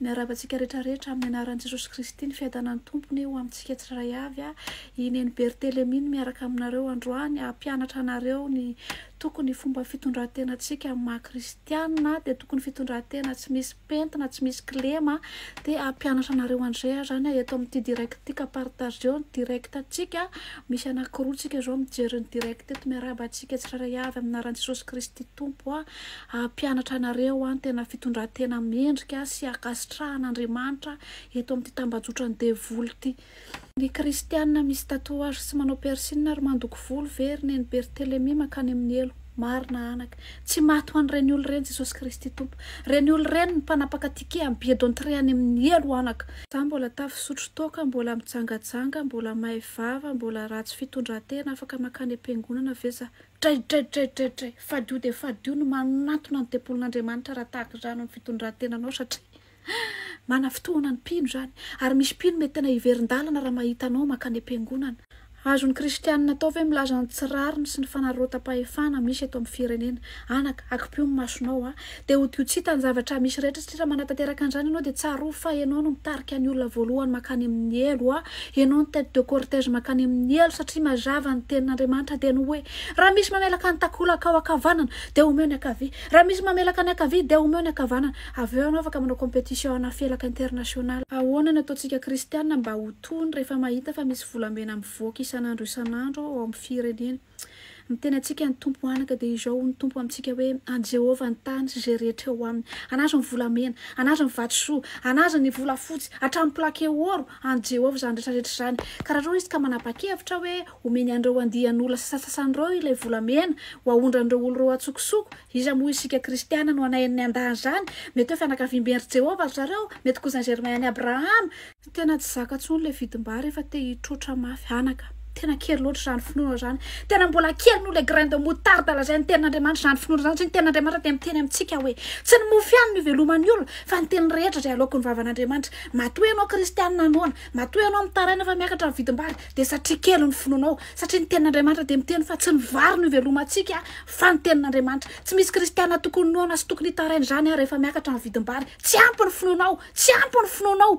Miarahaba antsika rehetra rehetra amin'ny anaran'i Jesosy Kristy ny fiadanan'ny Tompony ho amintsika tsirairay avy a! i Neny Berthelemy no miaraka aminareo androany hampianatra anareo ny tokony fomba fitondrantenantsika amin'ny maha kristiana dia tokony fitondrantena tsy misy pentina tsy misy kilema dia hampianatra anareo andray aho zany eto amin'ity direct ity ka partageo ny direct antsika misy anakiroa tsika zao mijery ny direct eto miarahaba antsika tsirairay avy amin'ny anaran'i Jesosy Kristy Tompo a! Hampianatra anareo aho ny tena fitondran-tena mendrika sy ankasitrahan' Andriamanitra eto amin'ity tambajotran'ny devoly ity. Ny kristiana misy tatouage sy manao piercine ary mandoko volo ve ry neny berthelemy mankany amin'ny helo? Marina anaka. Tsy maty ho an'ireny olona ireny Jesosy Kristy Tompo. Ireny olona ireny ny mpanapaka ticket amin'ny billet d'entrée any amin'ny helo anaka. Za mbola ta fisotro toaka, mbola mijangajanga, mbola may vava, mbola ratsy fitondran-tena, afaka mankany am-piangonana ve za? Draidraidraidraidray! Fadio dia fadio ny manatona ny tempolin'Andriamanitra raha tahaka izany ny fitondrantenanao satria mana fotoana ny mpino izany. Ary misy mpino mety tena hiverin-dalana raha mahita anao maka any am-piangonana. Azon'ny kristianina atao ve milaza ny tsy rariny sy ny fanararaotam-pahefana misy eto amin'ny firenena? Anaka, akipio ny masonao a! Dia ho dio tsy hita ny zavatra misy rehetra satria raha manatanteraka an'izany ianao dia tsarovy fa ianao no mitarika ny olona voalohany mankany amin'ny helo a! Ianao no tête de cortège mankany amin'ny helo satria mazava ny tenin'Andriamanitra dia ny hoe, Raha misy mamelaka ny takolakao ankavanana dia omeo ny ankavia, raha misy mamelaka ny ankavia dia omeo ny ankavanana. Avy eo ianao afaka manao compétition ana felaka international. Ahoana no ataontsika kristiana mba ho tony rehefa mahita fa misy volamena mivoaka isan'andro isan'andro ao amin'ny firenena? Miteny antsika ny Tompo ho anaka, dia izao hoy ny Tompo amintsika hoe, An'i Jehovah ny tany sy izay rehetra eo aminy. An'azy ny volamena, an'azy ny vatosoa, an'azy ny volafotsy, hatramin'ny plake ôro, an'i Jehovah izany rehetra rehetra izany. Ka raha toa izy ka manapa-kevitra hoe homeny an'ireo andian'olona sasantsasany ireo ilay volamena ho haondran'ireo olona ireo an-tsokosoko, iza moa isika Kristiana no hanaihan'ny andaniny izany? Mety hoe fianakaviamben-dry Jehovah ry zareo, mety Cousin Germain an'i Abrahama, Tena tsy zaka tsony le vidim-bary efa te hitroatra mafy anaka. Tena kely loatra izany finoana izany. Tena mbola kely noho ilay grain de moutarde lazain'ny tenin'Andriamanitra izany finoana izany, satria ny tenin'Andriamanitra dia miteny amintsika hoe, tsy ny mofo ihany no iveloman'ny olona, fa ny teny rehetra izay aloaky ny vavan'Andriamanitra. Matoa ianao kristianina noana, matoa ianao mitaraina fa miakatra ny vidim-bary, dia satria kely ny finoanao, satria ny tenin'Andriamanitra dia miteny fa tsy ny vary no ivelomantsika, fa ny tenin'Andriamanitra. Tsy misy kristianina tokony noana sy tokony hitaraina izany aho rehefa miakatra ny vidim-bary. Tsy ampy ny finoanao, tsy ampy ny finoanao.